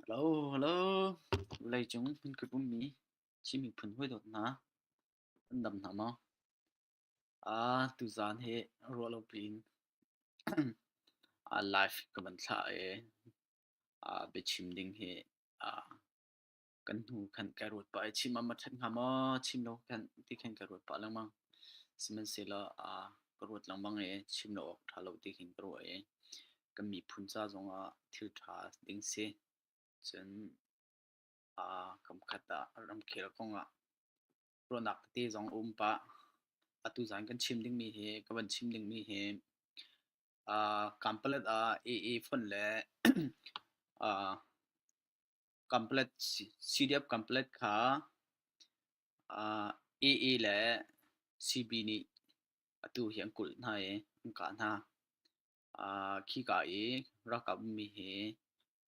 Hello, vawleicung kan ummi Chin miphun hawidawt hna, an dam hna maw? Ah, tuzaan hi ruah lo piin ah live ka van thlah i ah biachim ding hi ah kan hnu khan ka ruat pah i chim am a that hnga maw chim lo khan ti khan ka ruat pah lengmang sihmanhsehlaw aa ka ruat lengmang i chim lo awk ṭha lo ti khin ka ruah i kan miphun ca zongah thil ṭha ding si cun aa kamkhat ah ramkhel kongah ruahnak tete zong um pah atu zan kan chim dingmi hi ka van chim dingmi hi aa kampalet ah AA fund le aa complex CDF complex kha uh, AA le CB nih atu hi an kulh hna i an kah hna. Uh, khi ka i rakap mi hi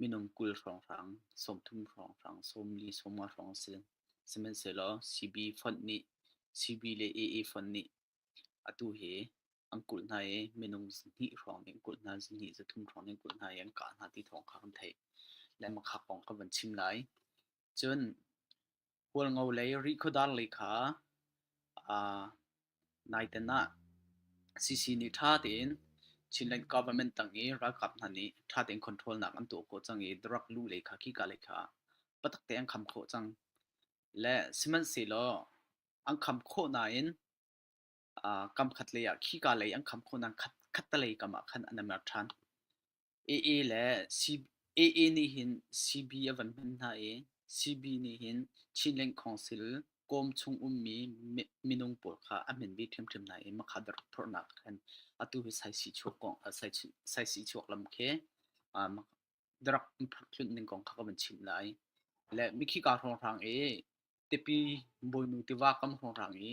minung kul hrawnghrang sawmthum hrawnghrang sawmli sawma hrawng si sihmanhsehlaw CB fund nih CB le AA fund nih Atu hi an kulh hna i minung zihnih hrawng in kulh hna, zihnih zathum hrawng in kulh hna i an kah hna ti thawng kha kan theih. Lehmakhak kong ka van chim lai. Cun Hualngo lei rih khuadar lei kha aa naiten ah CC nih ṭha tein Chinland government tang i ralkap hna nih ṭha tein control nak an tuah khawh cang i drug lu lei kha khika lei kha patak tein an kham khawh cang. Le sihmanhsehlaw an kham khawh nain uh, kam khat lei ah khi ka lei an kham khawh nain khat khattalei kam ah khan an i mer ṭhan AA le C AA nih hin CB a van hman hna i CB nih hin Chinlink Council kawm chung ummi minung pawl kha a min bi ṭhimṭhim hna i makhat rak phorhnak khan atu hi sai si chuak kong sai si chuak lam khi darak phakhlun ning kong kha ka van chim lai. Le mikhi ka hrang i tipi boinu tiva kam hrang i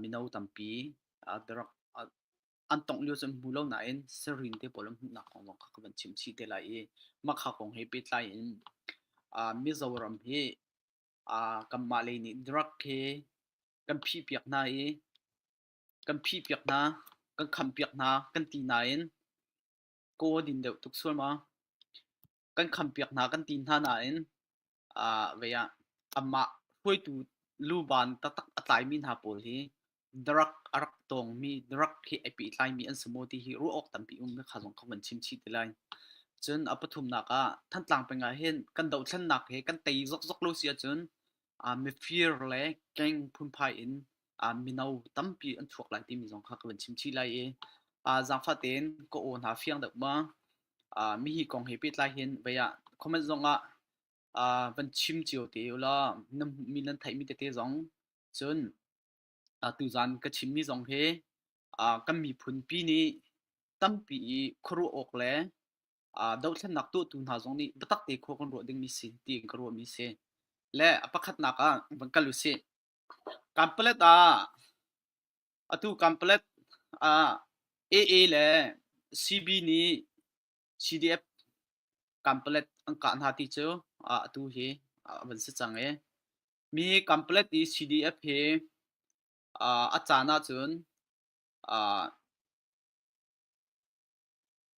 mino tampi darak an tong lio cun hmu lo nain sarin te pawl an hmuhnak kong kha ka van chim chih te lai i makha kong he pehtlai in mizo ram hi kanmah lei nih drug he kan phi piak hna i kan phi piak hna kan kham piak hna kan ti nain kaw a din deuh tuk sualmaw. Kan khampiak hna kan ti hna nain aa vei ah amah hruaitu luban taktak a tlaimi hna pawl hi darak a rak tawngmi, darak he ai pehtlaimi an si maw ti hi ruah awk tampi ummi kha zong ka van chimchih te lai. Cun a pathumnak ah Thantlang peng ah hin kan dohthlennak he kan tei zokzok lo si ahcun mifir le keng phunphai in mino tampi an thuak lai timi zong kha ka van chim chih lai i zaangfah tein ka aw hna fiang deuh ma mihi kong he pehtlai hin vei ah comment zong ah van chim cio te ulaw mi nan theihmi tete zong cun tuzaan ka chimmi zong hi kan miphunpi nih tampi i khuaruah awk le uh, dothlennak tuahtu hna zong nih biatak te khua kan ruah dingmi si tiin ka ruahmi si le a pakhatnak ah van kal u si kampalet ah atu kampalet ah AA le CB nih CDF kampalet an kah hna ti cu uh, atu hi uh, van si cang e mi kampalet i CDF hi uh, a caan ahcun uh,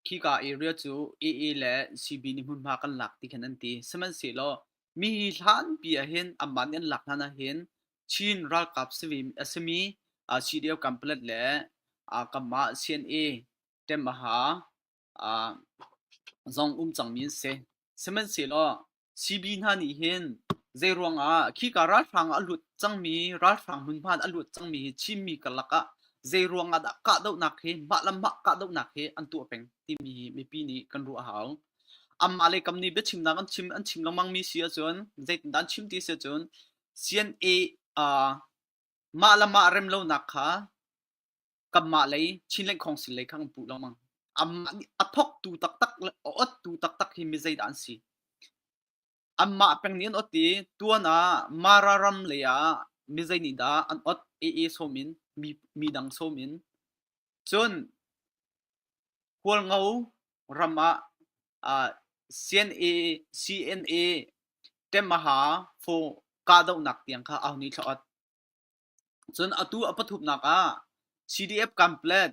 Khika i rial cu AA le CB nih hmunhma kan lak ti khin an ti. Sihmanhsehlaw mi hi hlanpi ahhin amah nih an lak hlan ahhin Chin ralkap a simi CDF Kanpalet le kanmah CNA Ṭem Aha zong um cangmi an si. Sihmanhsehlaw CB hna nih hin zeiruangah khika ralhrang ah a lut cangmi ralhrang hmunhmaan a lut cangmi hi Chinmi karlak ah zeiruangah dah kahdohnak hi mah le mah kahdohnak hi an tuah peng timi hi mipi nih kan ruah a hau. Amah le kam nih biachimnak an chim an chim lengmangmi si ahcun zeitindah an chim ti si ahcun CNA uh, mah le mah remlonak kha kanmah lei Chinland Council lei kha kan puh lengmang amah nih a thoktu taktak le a ottu taktak hi mi zeidah an si anmah peng nih an ot i tuan ah mara ram lei ah mi zei nih dah an ot aa som in mi mi dang som in cun hualngo ram ah uh, CNA CNA temaha fo kahdohnak tiang kha ahuni thlaot Cun atu a pathumnak ah CDF Camplet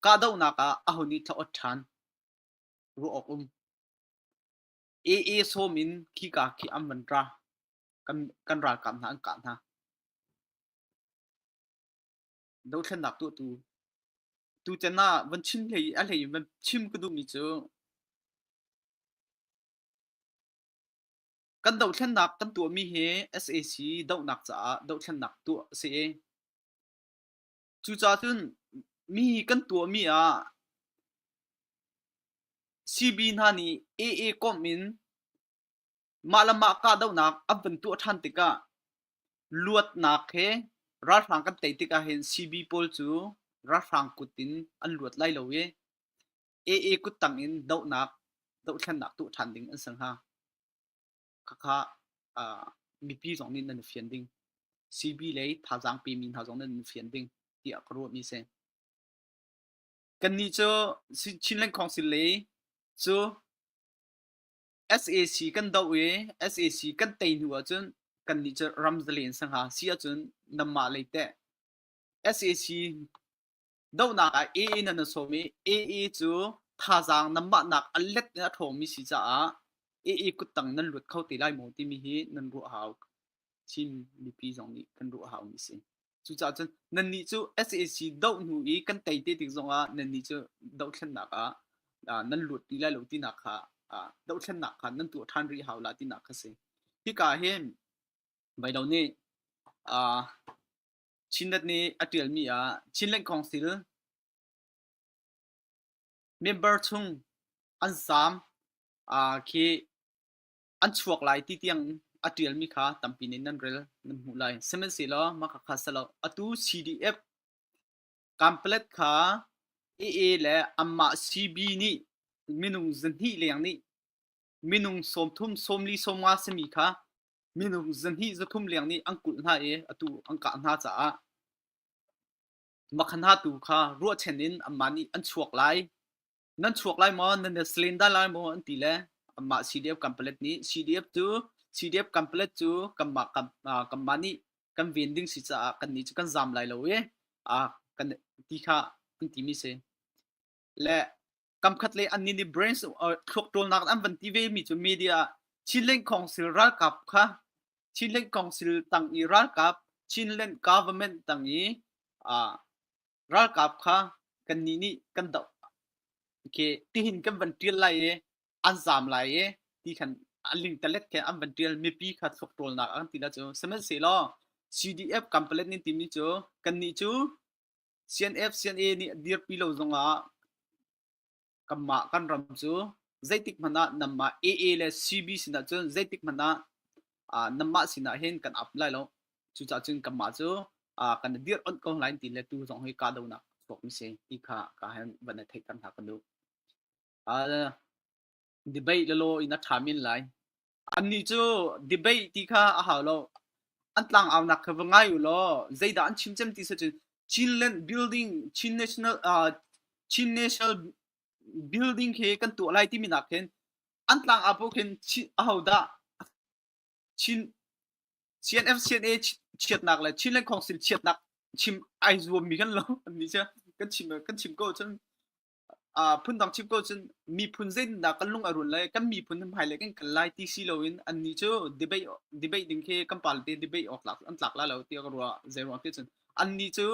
kahdohnak ah aho nih thlaawt ṭhan? Ruah awk um. AA sawm in khika khi an van ra. Kan, kan ralkap hna an kah hna. Dothlennak tu tu tu can ah van chin hlei a hlei in van chim ka duhmi cu Kan dohthlennak kan tuahmi hi SAC dohnak caah dohthlennak tuah a si i cucaah cun mi kan tuahmi ah CB hna nih AA komh in mah le mah kahdohnak an van tuah ṭhan tikah luatnak he ralhrang kan tei tikah hin CB pawl cu ralhrang kut in an luat lai lo i AA kuttang in dohnak dohthlennak tuah ṭhan ding an ser hna. Khakha mipi zong nih nan fian ding. CB le thazaang pemi hna zong nan fian ding tiah ka ruahmi si. Kannih cu Chin Land Council le cu SAC kan doh i SAC kan tei hnu ahcun kannih cu ram zalen sang ha si ahcun nanmah lei teh SAC dohnak ah ee nan a sawm i ee cu thazaang nanmahnak a let in a ṭhawngmi si caah ee kuttang nan luat kho te lai maw timi hi nan ruah hau Chin mipi zong nih kan ruah haumi si. Cucaah cun nannih cu SAC doh hnu i kan tei te tik zongah nannih cu dohthlennak ah ah, nan lut ti lai lo tinak kha ah, dohthlennak kha nan tuah ṭhan rih hau la tinak kha si. Hika hi Vailo nih ah, Chinrat nih a ṭialmi ah Chinland Council member chung an saam khi an chuak lai ti tiang a ṭialmi kha tampi nih nan rel nan hmuh lai. Sihmanhsehlaw mahka kha si lo atu CDF camplet kha AA le anmah CB nih minung zahnih leng nih minung sawmthum sawmli sawmnga simi kha minung zahnih zathum leng nih an kulh hna i atu an kah hna caah makhan hatu kha ruahchen in anmah nih an chuak lai nan chuak lai maw nan slen da lai maw an ti le anmah CDF kampalet nih CDF cu CDF kampalet cu kanmah kanmah nih kan ven ding si caah kan nih cu kan zam lai lo i a kan ti kha an ti mi si le kamkhat le an ni ni brains thluak ṭolnak an van ti ve mi cu media Chinland Council ralkap kha Chinland Council tang i ralkap Chinland government tang i ralkap kha kan ni nih kan doh okay tihin kan van ṭial lai i an zam lai i ti khan aling talet khe an van ṭial mipi kha thluak ṭolnak an ti la cu sihmanhsehlaw CDF kampalet nin timi cu kan ni cu CNF CNA nih a dirpi lo zongah kanmah kan ram cu zeitik hmanh ah nanmah AA le CB sinah cun zeitik hmanh ah nanmah sinah hin kan ap lai lo cucaah cun kanmah cu kan dir onh ko lai ti le tu zong hi kahdohnak chuak mi si ti kha ka han van theih tan hna kan duh debate lalo in a tha min lai Annih cu debate ti kha a hau lo. An tlangaunak kha va ngai u law zeidah an chim cem ti seh cun Chinland building Chin national uh, Chin national building khi kan tuah lai timi nak hin an tlangau paoh khin Chin ahodah Chin CNFCNA chiatnak le Chinland Council chiatnak chim ai zuam mi kan lo annih cu kan chim kan chim ko cun phundang chim ko cun miphun zeitindah kan lung a run le kan miphun hmai le kan kal lai ti si loin annih cu debate debate ding khi kan party debate awk tlak an tlak la lo ti ka ruah zei ruang ti cun annih cu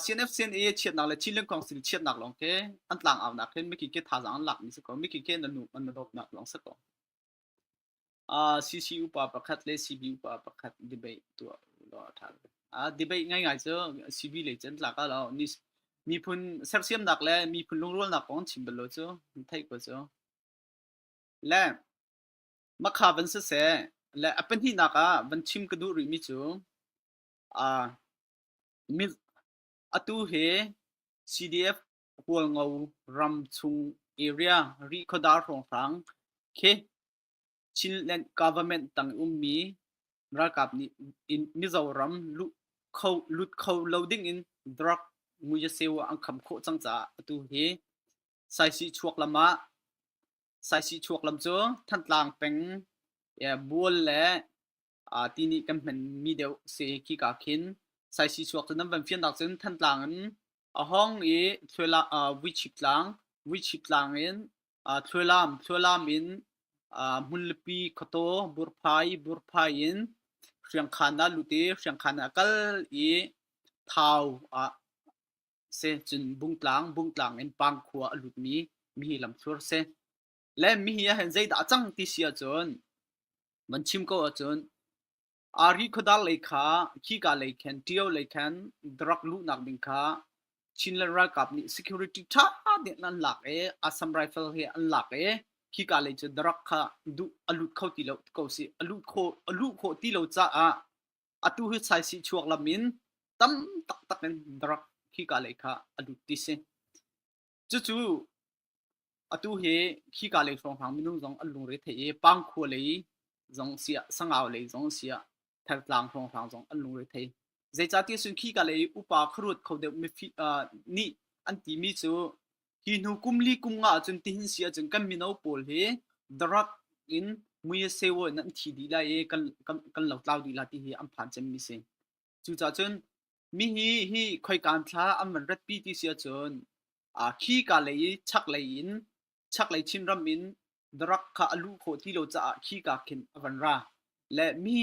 CNF CNA chiatnak le Chin Land Council chiatnak lawng khi an tlang aunak hin miki ke thazaang an lak mi si ko miki ke na nu an na dawtnak lawng si ko CC upa pakhat le CB upa pakhat debate tuah lo a ṭha. Debate ngaingai cu CV le cun tlak a lo. Miphun sersiamnak le miphun lungrualnak kong chim bal lo cu theih ko cu. Le makha van siseh le a pahnihnak ah van chim ka duh rihmi cu atu hi CDF Pualngo ram chung area Rihkhawdar hrawnghrang khi Chinland government tang ummi ralkap nih in Mizoram lut kho lut kho lo dingin drug muiseu ah an kham khawh cang caah atu hi Saisih chuak lam ah Saisih chuak lam cu Thantlang peng Bual le ti nih kan hmanmi deuh si khika khin saisi chuak cu nan van fiannak cun thantlang in a hong i thluela vuichip tlang vuichip tlang in thluelam thluelam in hmunlipi khuataw burphai burphai in hriangkhan ah lut i hriangkhan ah kal i thau ah se cun bungtlang bungtlang in pangkhua a lutmi mi hi lamthur si le mihi ahhin zeidah a cang ti si ahcun van chim ko ahcun ari khuadar lei kha khika lei khan ṭio lei khan drug luhnak ding kha Chin le ralkap nih security ṭha tein an lak i Assam rifle hi an lak i khika lei cu drug kha duh a lut kho ti lo ko si a lut kho a luh khawh ti lo caah atu hi saisi chuak lam in tam taktak in drug khika lei kha a lut ti si. Cucu atu hi khi ka lei hrawnghrang minung zong an lungre thei i pangkhua lei zong siah sangau lei zong siah thartlang hrawnghrang zong an lungre thei zeicahti sun khi ka lei upa kharuat kho deuh mi nih an ti mi cu hi hnu kum li kum nga cun tihin si ahcun kan mino pawl hi darak in muye sewo nan thi dih lai i kan kan lo tlau dih la ti hi an phan cem mi si Cucah cun mi hi hi khoikaan thla an van ratpi ti si ahcun aa khi kaa lei i chaklei in chaklei Chinram in darak kha a luh khawh ti lo caah khi kaa khin a van ra. Le mi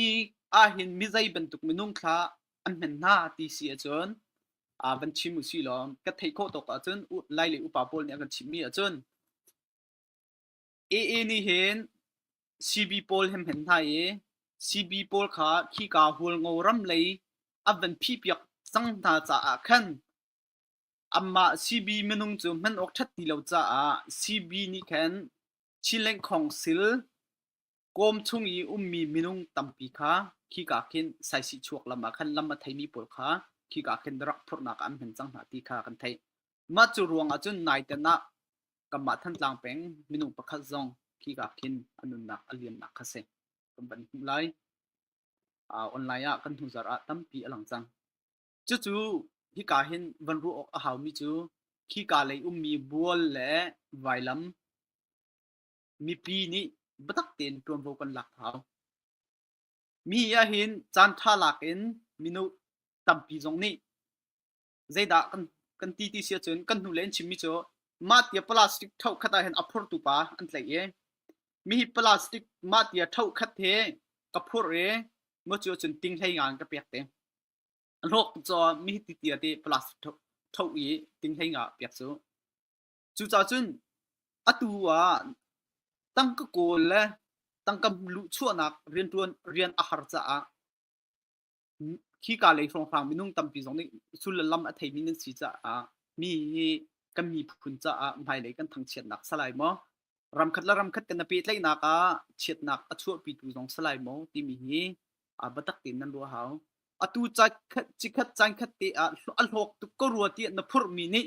ahhin mizei bantuk minung thla an hman hna ti si ahcun aa van chim usih law ka theih khawh tawk ahcun lai le upa pawl nih an kan chimhmi ahcun AA nih hin CB pawl hi an hman hna i CB pawl kha khika hualngo ram lei an van phihpiak cang hna caah khan anmah CB minung cu hman awk ṭhat ti lo caah CB nih khan Chin Lengkhawng sil kawm chung i ummi minung tampi kha khika khin saisih chuak lam ah khan lam a theimi pawl kha khika khin rak phurhnak an hman cang hna ti kha kan theih. Mah cu ruangah cun naiten ah kanmah Thantlang peng minung pakhat zong khika khin a nunnak a liannak kha si kan van hmuh lai. Uh, online ah kan hnu zar ah tampi a lang cang. Cucu hika hin van ruah awk a haumi cu khika lei ummi bual le vailam Mipi nih biatak tein ṭuanvo kan lak hau. Mi ahhin caanṭha lak in minu tampi zong nih zeidah kan kan ti ti si ahcun kan hnule an chimmi cu mah tia plastic ṭhohkhat ahhin a phurtu pa an tlaih i mihi plastic mah tia ṭhohkhat hi ka phurh i maw cu ahcun ting hlei nga in ka pek te a hlawk cu mihi ti tia ti plastic ṭhoh ṭhoh i ting hlei nga pek cu Cucacun atu ah tangka kawl le tangka luhchuahnak riantuan rian a har caah khi ka lei hrawnghrang minung tampi zong nih sul le lam a theimi nan si caah mi hi kan miphun caah hmailei kan thangchiatnak salai maw ramkhat le ramkhat kan pehtlaihnak ah chiatnak a chuahpitu zong salai maw timi hi biatak tein nan ruah hau atu cakhat cikhat caankhat te ah a hlawk tuk ka rua tiah na phurhmi nih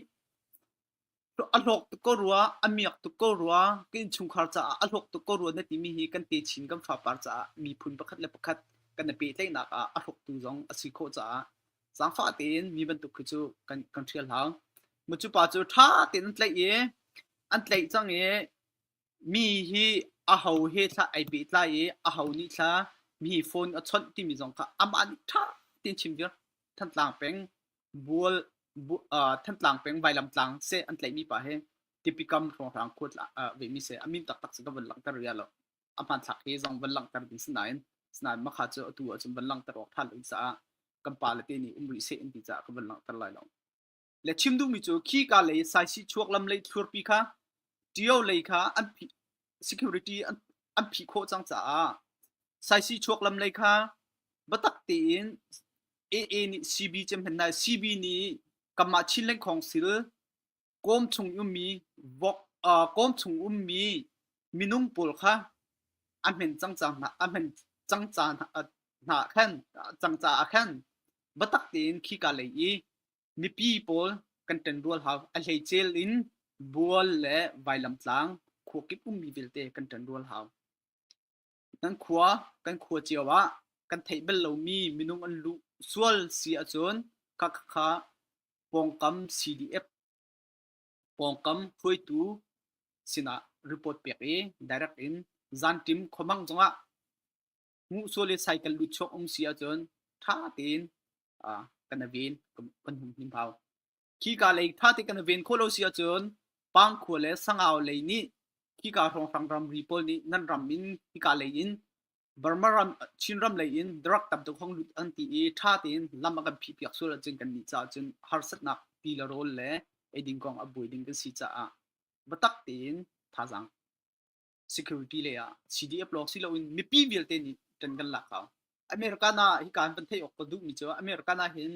A hlawk tuk ko rua, a miak tuk ko rua, ka innchungkhar caah a hlawk tuk ko rua na timi hi kan te chin kan fapar caah miphun pakhat le pakhat kan i pehtlaihnak ah a hlawktu zong a si khawh caah zaangfah tein mi bantuk khi cu kan kan hrial hau. Maw cu pa cu ṭha tein an tlaih i an tlaih cang i mi hi a ho he thla ai pehtlai i a ho nih thla mi hi phone a chawnh timi zong kha amah nih ṭha tein chim vir. Thantlang peng Thantlang peng Vailamtlang seh an tlaihmi pa hi tipikam hrawnghrang khua vemi seh a min taktak cu ka van langhter rih lo. A hmanthlak hi zong van langhter ding sinain sinain makha cu atu ahcun van langhter awk than loin caah kan pa le te nih um rih seh an ti caah ka van langhter lai lo. Le chim duhmi cu khi ka lei saisih chuak lam lei thlurpi kha ṭio lei kha an security an an phih khawh cang caah saisi chuak lam lei kha batak tein AA nih CB cem hlen nai CB nih kamah chin leng khong sil kom chung ummi vok uh, kom chung ummi minung pawl kha amen cang cang na amen cang ca na khan cang ca a khan batak tein khi ka lei i Mipi pawl kan ṭanrual hau. A hleicel in Bual le Vailamtlang khua kip ummi vialte kan ṭanrual hau. Kan khua kan khua cio ah kan theih bal lomi minung an luh sual si ahcun khakha pawngkam CDF pawngkam hruaitu sinah report pek i direct in zanṭim khuamang zongah hmuhsual le cycle lut chuak um si ahcun ṭha tein kan ven kan hum hnim hau. Khika lei ṭha te kan ven khawh lo si ahcun pangkhua le sangau lei nih khika hrawnghrang ramri pawl nih nan ram in khika lei in Burma ram Chin ram lei in drug tam tuk hong lut an ti i ṭha tein lam a kan phih piak sual ahcun kan nih caah cun harsatnak ti le rawl le ei ding kong a buai ding kan si caah biatak tein thazaang security le ah CDF lawng si loin mipi vialte nih kan kan lak pau America na hi kan pan thei ok ka duh mi chu America na hin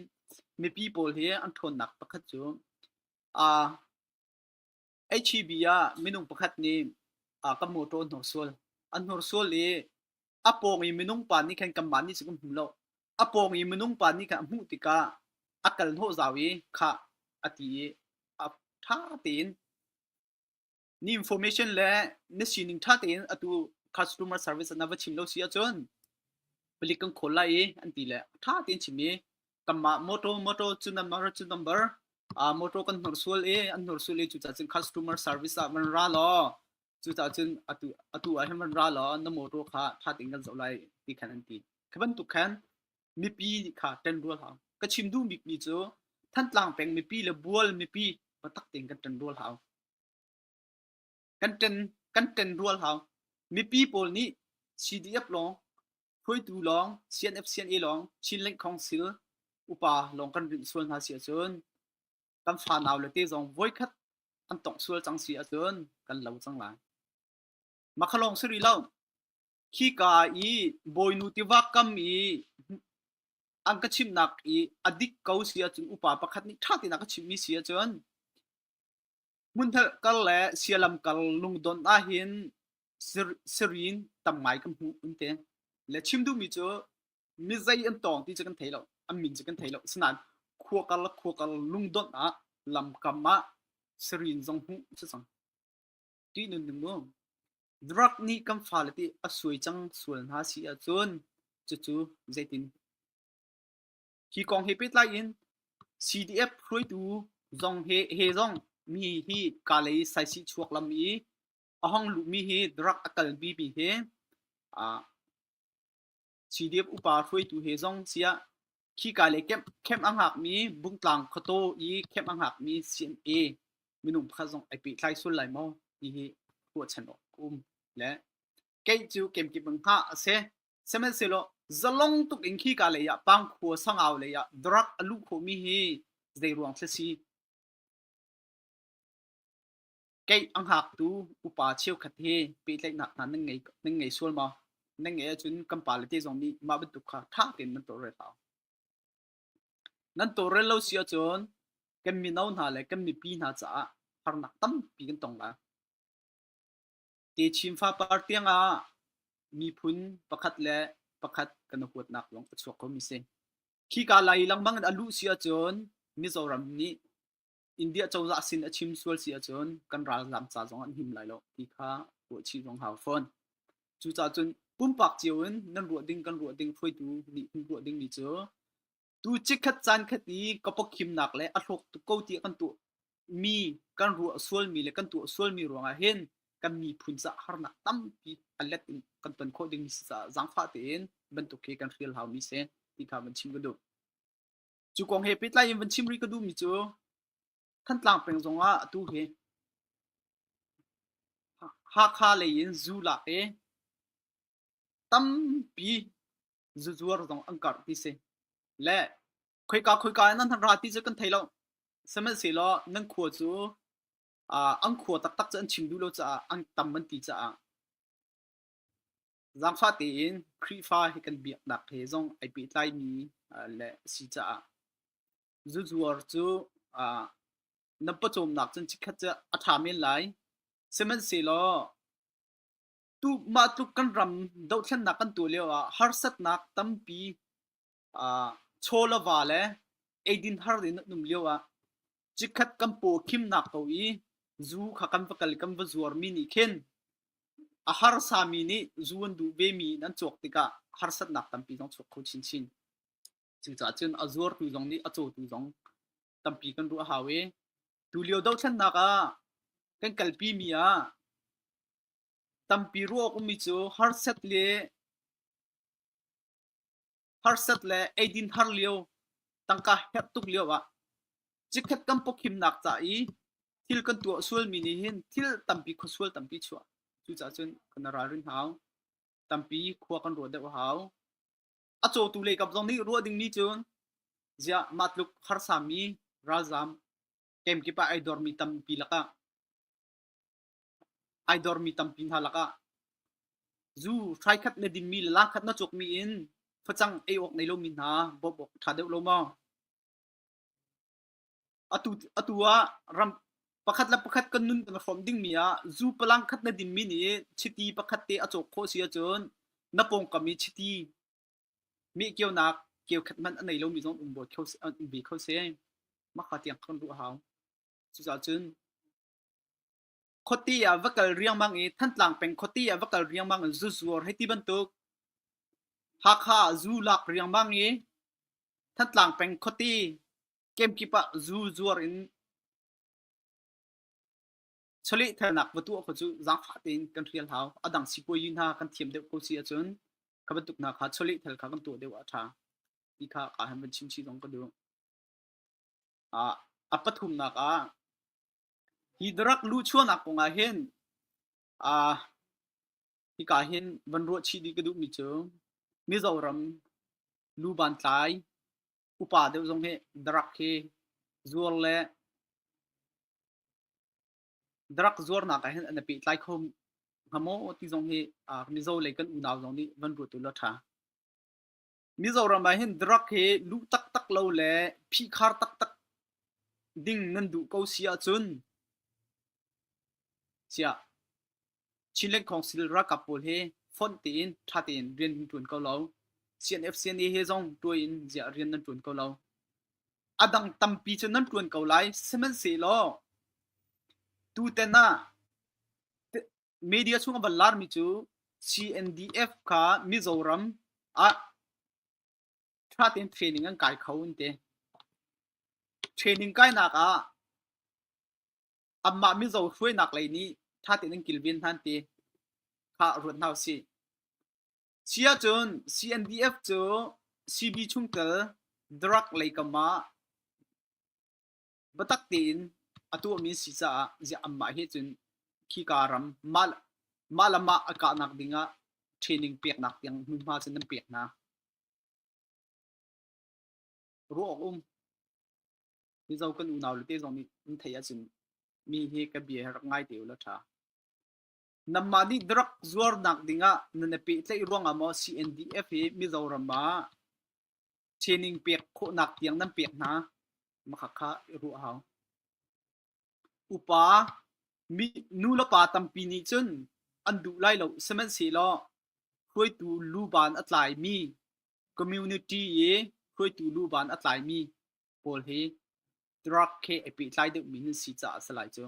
mipi pawl hi an ṭhawn nak pakhat chu a HEB ah minung pakhat nih a ka motor hnor sual an hnor sual i a pawng i minung pa nih khan kanmah nih kan hmu lo a pawng i minung pa nih khan a hmuh tikah a kal hnawh zau i khah a ti i a ṭha tein ni information le na sining ṭha tein atu customer service na va chim lo si ahcun palik kan khawl lai i an ti le ṭha tein chim i kanmah motor motor cu number cu number uh, motor kan hnursual i an hnursual i cucah cun customer service ah van ra law cucah cun atu atu ah hin van ra law na motor kha ṭha tein kan zoh lai ti khan an ti khi bantuk khan mipi kha ṭanrual hau ka chim duh bikmi cu Thantlang peng mipi le bual mipi patak tein kan ṭanrual hau Kan ṭenrual hau. Mipi pawl nih CDF lawng, hruaitu lawng, CNF-CNA lawng, Chin Lengkhong Sil upa lawng kan rinh sual hna si ahcun kan fanau le te zong voikhat an tongh sual cang si ahcun kan lo cang lai. Makha lawng si rih lo. Khi ka i bawinu tiva kam i an ka chimnak i a dik ko si ahcun upa pakhat nih ṭha tein a ka chimhmi si ahcun Hmunhnalh kar le sialam kar lungdon ahhin sirin tam ngai kan hmuh an ti. Le chim duhmi cu mizei an tawng ti cu kan thei lo, an min cu kan thei lo. Asinain khua kar le khua kar lungdon ah lamkam ah sirin zong hmuh a si cang. Ti nun ning mu. Drug nih kan fale ti a suai cang sual hna si ahcun cucu zeitin? Hi kong he pehtlai in CDF hruaitu zong he, he zong mi hi kaa lei saisih chuak lam i a hong luhmi hi rak a kalpi mi he ah CDF upa hruaitu he zong siah khi kaa lei camp, camp a hngakmi Bungtlang khuataw i camp a hngakmi CMA minung pakhat zong ai pehtlai sual lai maw ti hi ruahchan awk a um. Le keih cu kemkip in hngah a si. Sihmanhsehlaw zalong tuk in khika lei ah pangkhua sangau lei ah drug a luh khawhmi hi zeiruang thil si? Kei a hngaktu upa cheukhat hi pehtlaihnak hna nan ngei nan ngei sual ma? Nan ngei ahcun kan pa le te zong nih mah bantuk kha ṭha tein nan tawlrel hau. Nan tawlrel lo si ahcun kan mino hna le kan mipi hna caah harnak tampi kan tong lai. Techin fapar tiangah miphun pakhat le pakhat kan i huatnak zong a chuak khomi a si. Khika lai lengmang in a luh si ahcun Mizoram nih India cozah sin a chim sual si ahcun kan ralzaam ca zong an him lai lo ti kha ruahchih zong hau fawn. Cucacun pumpak cio in nan ruah ding kan ruah ding hruaitu nih hin ruah dingmi cu tu chikkhat caan khat i ka pawkhimnak le a hlawk tuk ko ti kan tuah mi kan ruah sualmi le kan tuah sualmi ruangah hin kan miphun ca harnak tampi alet in kan ton khawh ding si caah zangfah tein bantuk khi kan hrial hau mi se ti kha van chim ka duh cu kong he pehtlai in van chim ri ka duh mi cu Thantlang peng zong ah tu hi Hakha lei in zu lak i tampi zuzuar zong an karh ti si le khoika khoika nan ra ti cu kan thei lo sihmanhsehlaw nan khua cu an khua taktak cu an chim duh lo caah an tam an ti caah zaangfah tein Khrihfa hi kan biaknak he zong ai pehtlai mi le si caah zuzuar cu nan pawcawmnak cun cikhat cu a ṭha men lai sihmanhsehlaw mah tluk kan ram dohthlennak kan tuah lio ah harsatnak tampi uh, chawlava le eidin har din num lio ah cikhat kan paw khimnak to i zu kha kan va kal kan va zuar mi nih khin a harsa mi nih zu an duh ve mi nan chuak tikah harsatnak tampi zong chuak kho chin chin cucaah cun a zuar tu zong nih a caw tu zong tampi kan ruah hau e tu lio dothlennak ah kan kalpi mi ah Tampi ruah a ummi cu harsat le eidin har lio, tangka herh tuk lioah chikkhat kan pawkhimnak ca i thil kan tuah sualmi nih hin thil tampi khuasual tampi chuah. Cucaah cun kan i ralrin hau. Tampi khua kan ruah deuh a hau. A cawtu leikap zong nih ruah dingmi cun ziah mah tluk harsami ralzaam kemkip ah ai dormi tampi lakah Ai dormi tampi hna lakah zu hrai khat na dingmi le la khat na cukmi in facang ei awk nei lomi hna bawmh awk a ṭha deuh lo maw? Atu, atu ah ram pakhat le pakhat kan nun kan hrawm dingmi ah zu palang khat na dinmi nih chiti pakhat te a cawk khawh si ahcun na pawngkam i chiti mehkeunak keukhat hmanh a nei lomi zong um ve kho seh. Mahka tiang khan ruah a hau. Cucaah cun Khuati ah va kal riangmang i Thantlang peng khuati ah va kal riangmang in zu zuar hei ti bantuk. Hakha ah zu lak riangmang i Thantlang peng khuati kemkip ah zu zuar in chawlehthalnak va tuah kha cu zaangfah tein kan hrial hau. A dang sipuazi hna kan thiam deuh ko si ahcun kha bantuk hna kha chawlehthal kha kan tuah deuh ah a ṭha ti kha kaa han van chimchih zong ka duh. A pathumnak ah hi darak luhchuahnak kong ah hin hika hin van ruah chih dih ka duhmi cu Mizoram lubantlai upa deuh zong hi darak hi zuar le darak zuarnak ah hin an i pehtlai kho hnga maw ti zong hi Mizo lei kan unau zong nih van ruah tu la ṭha. Mizoram ah hin drug hi lu taktak lo le phikhar taktak ding nan duh ko si ahcun siah Chinland Council ralkap pawl hi fonh tein ṭha tein rian nan ṭuan ko lo. CNFCNA he zong tuai in ziah rian nan ṭuan ko lo. A dang tampi cu nan ṭuan ko lai, sihmanhsehlaw tutan ah media chung a van laarmi cu CNDF kha Mizoram ah ṭha tein training an kai kho an ti. Training kainak ah amah Mizo hruainak lei nih ṭha tein an kilven hnan ti kha ruat hna usih. Chia cun CNDF cu CB chungtel drug lei kam ah biatak tein a tuahmi si caah ziah anmah he cun khika ram mah, mah le mah a kahnak ding ah training peknak tiang hmunhma cu nan pek hna. Ruah awk um. Mizo kan unau le te zong nih an theih ahcun mi hi ka bia he rak ngai te u la tha. Namah nih direct zuarnak ding ah nan i pehtlaih ruangah maw CNDF hi Mizoram ah Sining pek khawhnak tiang nan pek hna. Makhakha i ruah hau. Upa, mi, nu le pa tampi nih cun an duh lai lo, sihmanhsehlaw hruaitu luban a tlaimi, community i hruaitu luban a tlaimi pawl hi drug he i pehtlai deuhmi nan si caah a si lai cu.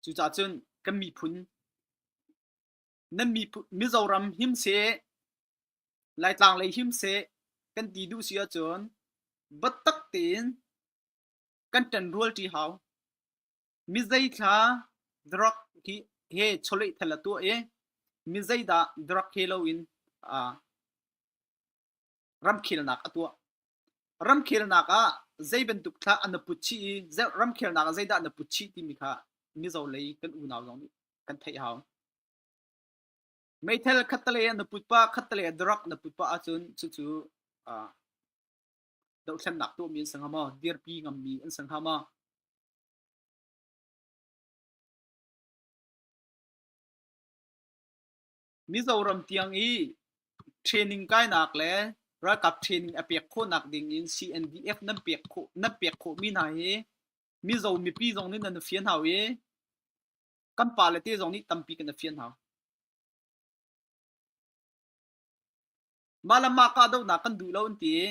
Cucaah cun kan miphun nan miphun Mizoram him seh Laitlang lei him seh kan ti duh si ahcun battak tein kan ṭan rual ṭi hau. Mi zeithla drug hi he chawleh thal a tuah i mi zeidah drug he loin ramkhelnak a tuah. Ramkhelnak ah zei bantuk thla an na put chih i ramkhelnak ah zeidah na put chih timi kha Mizo lei kan unau zong nih kan theih hau. Meithal khattalei ah na put pah, khattalei ah drug na put pah ahcun cucu uh, dohthlennak tuahmi an si hnga maw, dirpi ngammi an si hnga maw, Mizoram tiang i training kainak le ralkap training a pek khawhnak ding in CNDF nan pek khawh nan pek khawhmi hna hi Mizo mipi zong nih nan fian hau i kan pa le te zong nih tampi kan fian hau. Mah le mah kahdohnak kan duh lo an ti i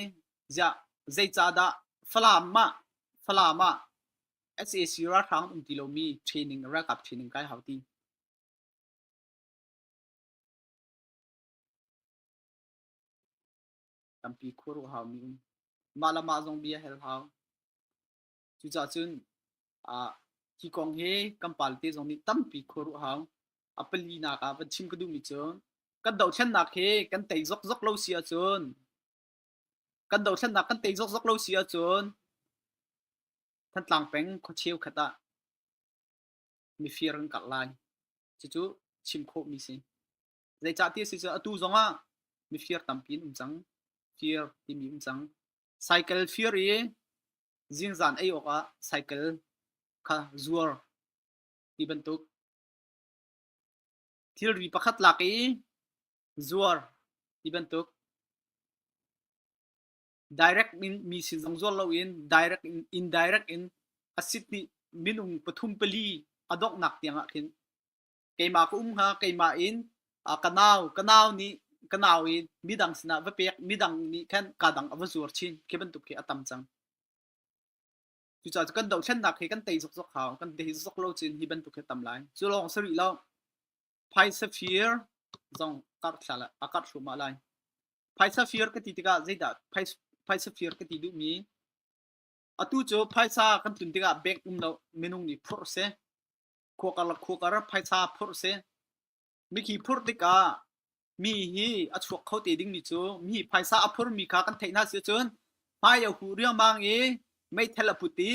ziah zeicahdah Falam mah Falam ah SAC ralhrang um ti lomi training ralkap training kai hau ti. Tampi khuaruah haumi um. Mah le mah zong bia hal hau. Cucaah cun ah hi kong hi kan palte zong nih tampi khuaruah hau. A pali nak ah van chim ka duhmi cu kan dothlennak hi kan tei zokzok lo si ahcun kan dothlennak kan tei zokzok lo si ahcun Thantlang peng khuacheu khat ah mifir an karh lai. Cucu chim khawhmi si. Zeicahtiah a si cu atu zongah mifir tampi an um cang. Fir timi um cang. Cycle fir i zingzan ei awkah cycle kha zuar ti bantuk. Thilri pakhat lak i zuar ti bantuk. direct in mi sin zong zual loin direct in indirect in a sit nih minung pathum pali a donghnak tiangah khin keimah ka um hnga keimah in ka nau ka nau nih ka nau i midang sinah va pek midang nih khan ka dang a va zuar chin khi bantuk khi a tam cang cucaah kan dohthlennak hi kan tei zokzok hau kan tei zokzok lo chin hi bantuk hi tam lai cu lawng sarih lo phaisa fir zong karhthla a karh hruhmah lai. Phaisa fir ka ti tikah zeidah phaisa fir ka ti duhmi atu cu phaisa kan tlun tikah bank um lo minung nih phur se khuakar la khuakar phaisa phur se mikhi phur tikah mi hi a chuak kho te ding mi cu mi phaisa a phur mi kha kan theih na si cun hmai a hu riangmang i mei thel a put i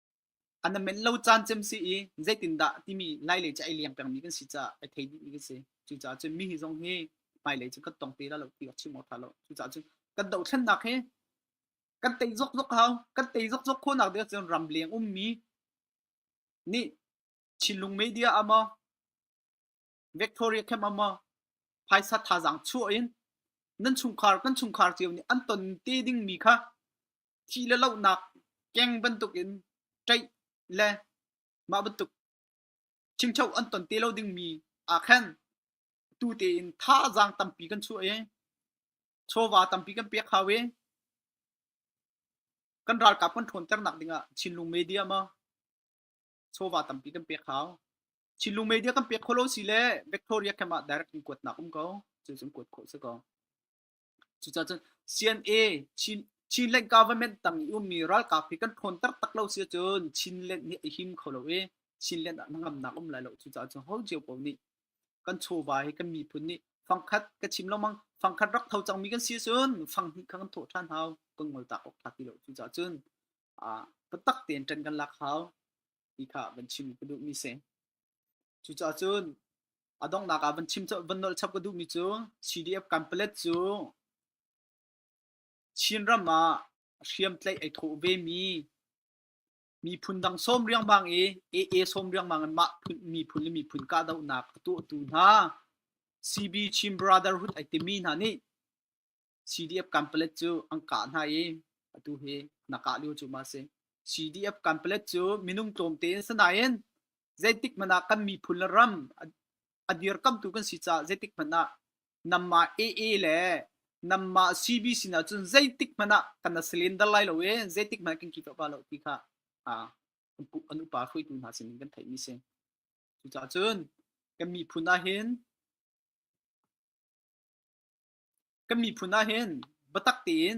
A na men lo caan cem si i zeitindah timi ngailei cu ai liang pengmi kan si caah ai thei dihmi kan si. Cucaah cun mi hi zong hi hmailei cu kan tong te lai lo ti awk chim awk ṭha lo. Cucaah cun kan dohthlennak hi kan tei zokzok hau. Kan tei zokzok khawhnak ding ahcun ramleng ummi nih Chinlung media ah maw Victoria camp ah maw phaisa thazaang chuah in nan chungkhar kan chungkhar cio nih an ton te dingmi kha thi le lonak keng bantukin ṭaih le mah bantuk chimcho an ton te lo dingmi aa khen tu tein thazaang tampi kan chuah i chawva tampi kan pek hau i kan ralkap kan ṭhawnternak dingah Chinlung media ma chawva tampi kan pek hau Chinlung media kan pek kholo si le Victoria khamah direct in kuatnak um ko cucun kuat khawh si ko Cucaah cun CNA Chin Chinland government tang i ummi ralkap hi kan ṭhawn taktak lo si ahcun Chinland hi a him kho lo i Chinland ah hnangamnak um lai lo. Cucaah cun ho cio paoh nih kan chawva hi kan miphun nih fangkhat ka chim lengmang fangkhat rak tho cangmi kan si ahcun fang hnih kha kan thawh ṭhan hau kan ngol tak awk ṭha ti lo. Cucaah cun ah biatak tein ṭan kan lak hau ti kha van chim ka duhmi si. Cucaah cun A donghnak ah van chim van nolh chap ka duhmi cu CDF campelet cu Chinram ah hriamtlaih ai thawh vemi miphun dang sawm riangmang i AA sawm riangmang in mah miphun le miphun kahdohnak a tuahtu hna CB Chin Brotherhood ai timi hna nih CDF campelet cu an kah hna i atu hi na kah lio cu ma si. CDF campelet cu minung tlawmte in sinain zeitik hmanh ah kan miphun le ram a dirkamtu kan si caah zeitik hmanh ah namah AA le namah CBC na cun zeitik hmanh ah kan na slender lai lo i zeitik hmanh kan kito ba lo ti kha an upa hruitu hna sin in kan theih mi si. Cucacun kan miphun ah hin Kan miphun ahhin biatak tein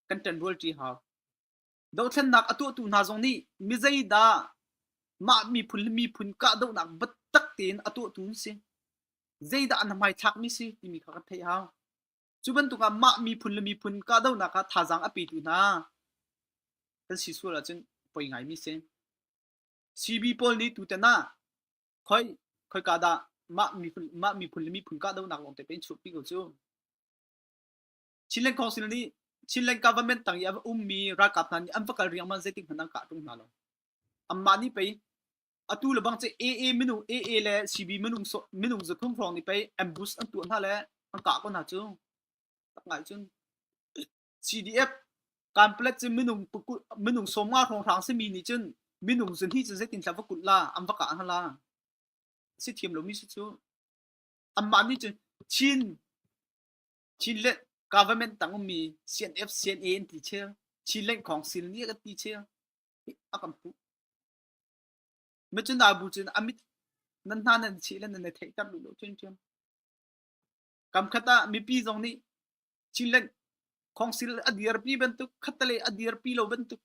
kan ṭanrual ṭi hau. Dohthlennak a tuahtu hna zong nih mizeidah mah miphun le miphun kahdohnak biatak tein a tuahtu an si? Zeidah an hmaithlakmi si timi kha kan theih hau. Cu bantuk ah mah miphun le miphun kahdohnak ah thazaang a petu hna kan si sual ahcun poi ngaimi si. CB pawl nih tutan ah khoi khoika dah mah miphun mah miphun le miphun kahdohnak lawng te pe chuhpi ko cu Chinland Council nih Chinland government tang i a ummi ralkap hna nih an va kal riangmang zeitik hmanh an kah ṭung hna lo amah nih pei atu le bang cu AA minung AA le CB minung minung zathum hrawng nih pei ambush an tuah hna le an kah ko hna cu tak ngai cun CDF kanpalet cu minung minung somnga hrawnghrang simi nih cun minung zun hi cu zeitin tla va kulh la am va kah la si thiam lomi si cu amah nih cun Chin Chin le government tang ummi CNF CNA an ti che Chin leng khong sil ni ka ti che a kan pu me cun da bu cun amit nan hna nan chi le nan theih tar lu lo chun chun Kamkhat ah mipi zong nih Chinland khawngsil a dirpi bantuk, khattale a dirpi lo bantuk,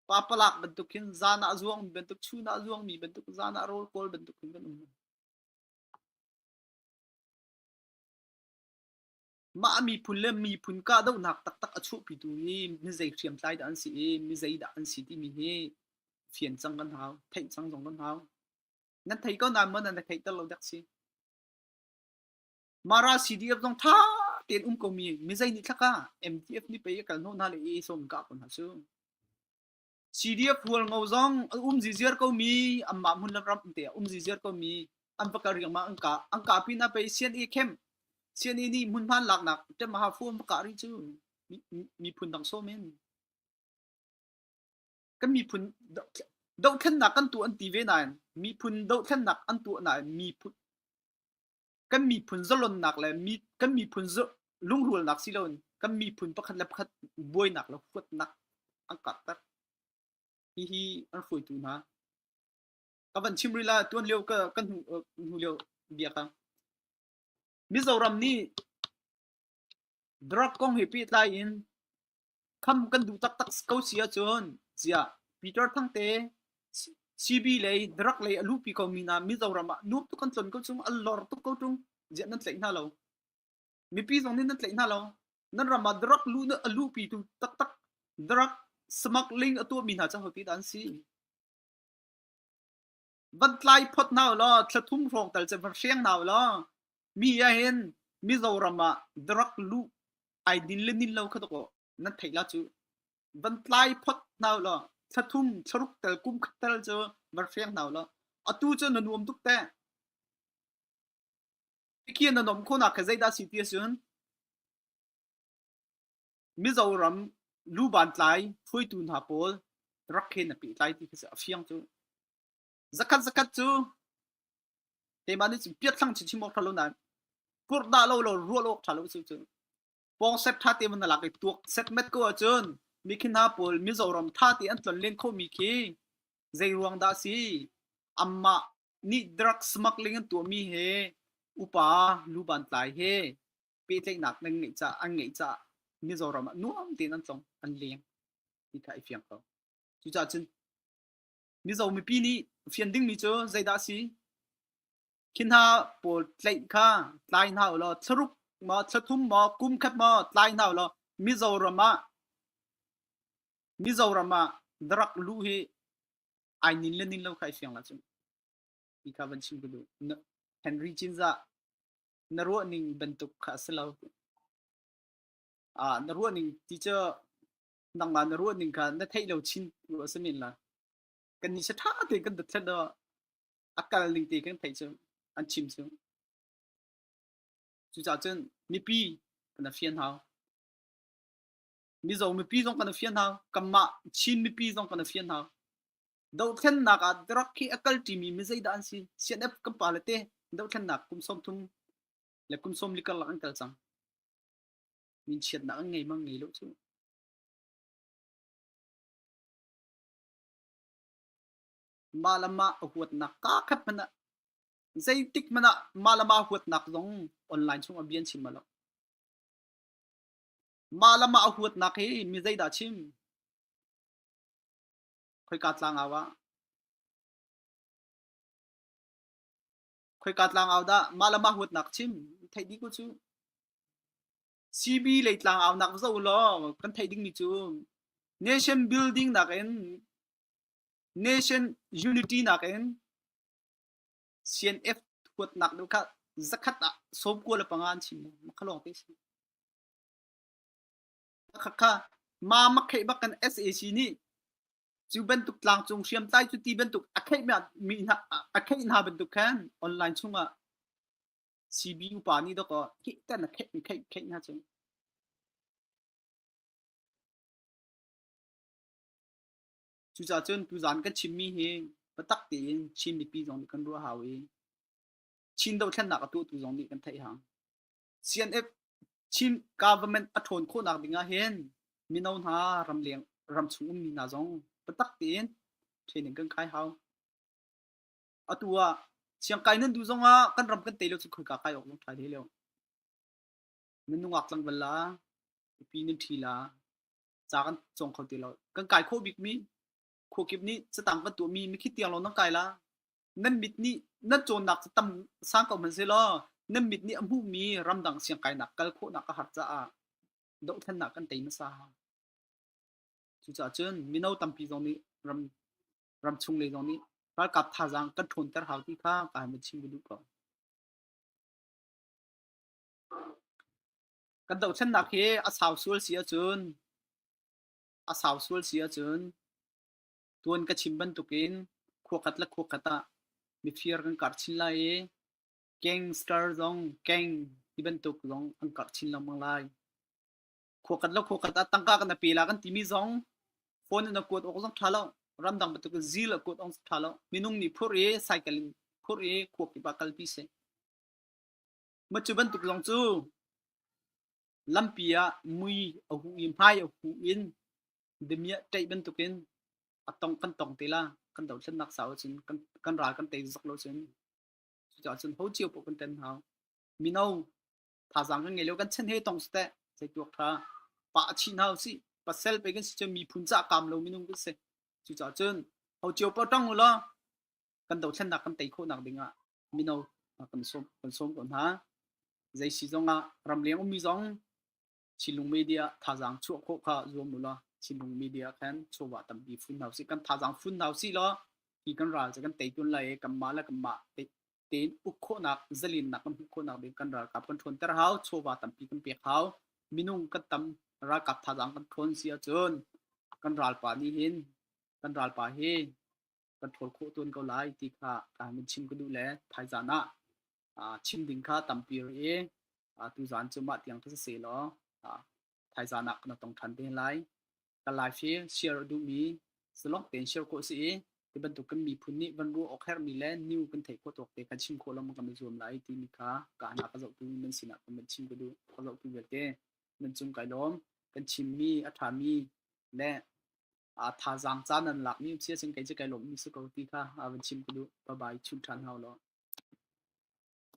papalak bantuk hin zan ah zuang bantuk, chun ah zuangmi bantuk, zan ah rawl kawl bantuk hin kan um. Mah miphun le miphun kahdohnak taktak a chuahpitu hi mizei hriamtlai dah an si i mizei dah an si timi hi fian cang kan hau, theih cang zong kan hau. nan thei ko nain maw nan theih ter lo dak si mara CDF zong tha ten um ko mi mizei ni thlaka MTF ni pe kal no na le e som ka kon ha su CDF hual ngo zong um ji ziar ko mi amma mun la ram te um ji ziar ko mi an pakal riang ma an ka an ka pi na pe CNA camp CNA ni mun man lak nak te ma ha fu ka ri chu mi phun dang so men kan miphun dohthlennak kan tuah an ti ve nain miphun dohthlennak an tuah nain miphun kan miphun zalonnak le mi kan miphun lungrualnak si loin kan miphun pakhat le pakhat buainak le huatnak an karhter hi hi an hruaitu hna ka van chim rila tuan lio ka kan hnu lio bia ka mizoram nih drug kong he pehtlai in Kham kan duh taktak ko si ahcun ziah Peter Thangte CB lei Dirac lei a luhpi komi hna Mizoram ah nuam tuk kan cawn ko chung, al lor tuk ko ṭung, ziah nan tlaih hna lo? Mipi zong nih nan tlaih hna lo. Nan ram ah Dirac luh a luhpitu taktak Dirac smuggling a tuahmi hna cu hotidah an si? van tlai phot hna law thlathum hrawng tal che van hriang hna law mi ah hin mizoram ah direct lu ai din le nin lo kha to nan thei la chu van tlai phot hna law thlathum tharuk tal kum khat tal chu van hriang hna law atu chu na nuam tuk te khi na nom khona ka zaida si ti sun Mizoram lubantlai phuitu hna pawl rak khen a pehtlai ti a fiang cu. Zakhat zakhat cu teima nih cun piathlang chichim awk ṭhalo nain kurdah lo lo ruah awk ṭha lo cu cu pawng sep ṭha te man lak i tuak set met ko ahcun mi khi hna pawl Mizoram ṭha te an tlon len khomi khi zei ruang dah si amah nih drugs smuggling an tuahmi he upa lubantlai he pehtlaihnak nan ngeih caah an ngeih caah Mizoram ah nuam tein an tlong an leng ti kha i fiang ko cucaah cun Mizo mipi nih fian dingmi cu zeidah si khi hna pawl tlaih kha tlai hna ulaw thlaruk maw thlathum maw kum khat maw tlai hna ulaw Mizoram ah Mizoram ah darak lu hi ai nin le nin lo khai fiang la cun i kha van chim ku du Henry Jinza na ruahning bantuk kha a si lo. Ah, na ruahning ti cu nangmah na ruahning kha na theih lo chin ru a si men la. Kan ni sa ṭha te kan dat thlet o a kal ning te kan theih cu an chim cu. Cucaah cun mipi kan a fian hau. Mizo mipi zong kan a fian hau. Kanmah Chin mipi zong kan a fian hau. Dothlennak ah drug hi a kalṭimi mi zeidah an si? CNF kan pale te dothlennak kum sawm thum le kum sawm li karlak an kal cang. Min chiatnak an ngei mang ngei lo cu. Mah le mah a huatnak kakhat hmanh ah zeitik hmanh ah mah le mah huatnak zong online chung a bian chim lo. Mah le mah a huatnak hi mi zeidah chim? Khoika tlangau dah mah le mah huatnak chim theih dih ku cu. Sibi lei tlangaunak va zoh ulaw kan theih dingmi cu nation building nakin nation unity nakin CNF huatnak deuh kha zakhat ah sawm kua le panga an chim maw? Makha lawng te a si. khakha ma makheih bak kan SAC nih cu bantuk tlangcung hriamtlai cu ti bantuk a kheih mi a kheih hna bantuk khan online chungah CB upa nih dok ki tan a kheih kheih kheih hna chung cucah cun tuzan kan chimmi hi patak tein Chin mipi zong nih kan ruah hau i Chin dothlennak a tu tu zong nih kan theih hang Chin government a ṭhawn khawhnak ding ahhin mino hna ramleng ramchung ummi hna zong biatak tein training kan kai hau. Atu ah Chiang Kai nan du zong ah kan ram kan tei lio cu khoika kai awk nan ṭhai te lio. Nan nungak tlang bal la, upi nan ṭhi la, ca kan cong kho ti lo. Kan kai khawh bikmi khuakip nih catang kan tuahmi mikhi tiang lo nan kai la, nan mit nih nan cawnnak cu tam sang ko hmanhsehlaw nan mit nih a hmuhmi ramdang siangkainak kal khawhnak a har caah dohthannak kan tei hmasa. Cucaah cun mino tampi zong nih ram ram chung le zong nih ralkap thazaang kan ṭhawnter hau ti kha ka han chim duh ko. Kan dohthlennak hi a sau sual si ahcun a sau sual si ahcun Tuan ka chim bantukin khuakhat le khuakhat ah mifir kan kar chin lai i gangster zong gang ti bantuk zong an karh chin lengmang lai. Khuakhat le khuakhat ah tangka kan ape la kan timi zong phone in a kuat awk zong tha lo ramdang bantuk zil a kuat awk tha lo minung nih phur i cycle in phur i khuak i ba kalpi se macu bantuk zong cu lampi ah mui a hu i hmai a hu in Demiah ṭaih bantukin a tong kan tong te la kan dothlennak sau cun kan kan ral kan tei zok lo cun cucaah cun ho cio poh kan ṭen hau mino thazaang kan ngei lo kan chen he tong siteh zei tuak ṭha pa a chih hau si pasal pe kan si cun miphun ca kaam lo minung kan si cucaah cun ho cio poh ṭang u law kan dothlennak kan tei khawhnak dingah mino kan sawm kan sawm ko hna zei si zongah ram leng ummi zong Thinlung media thazaang chuah khawh kha zuam u la thinlung media khan chawva tampi fun hau si kan thazaang fun hau si lo hi kan ral kan tei tun lai kan ma la kan ma tein uk khawhnak zalinnak kan hmuh khawhnak ding kan ralkap kan ṭhawn ter hau chawva tampi kan pek hau minung kan tam ralkap thazaang kan ṭhawn si ahcun kan ralpa nih hin kan ralpa hi kan ṭhawl khawh tun ko lai ti kha ka min chim ka duh le thaizan ah chim ding kha tampi i tuzan cu mah tiang thasa se law thaizan ah na tong ṭhan te lai kan live hi share duhmi zalong tein share ko si i ti bantuk kan miphun nih van ruah awk hermi le new kan theih khawh tawk te kan chim khawh lam kan zuam lai ti mi kha ka hna ka zohtu nan sinah kan chim ka du ka zohtu vialte nan cung kai lawm kan chimmi a ṭhami le thazaang caan an lakmi si ahcun kei cu kai lawmhmi si ko ti kha a van chim ka duh. Bye bye, chim ṭhan hau law.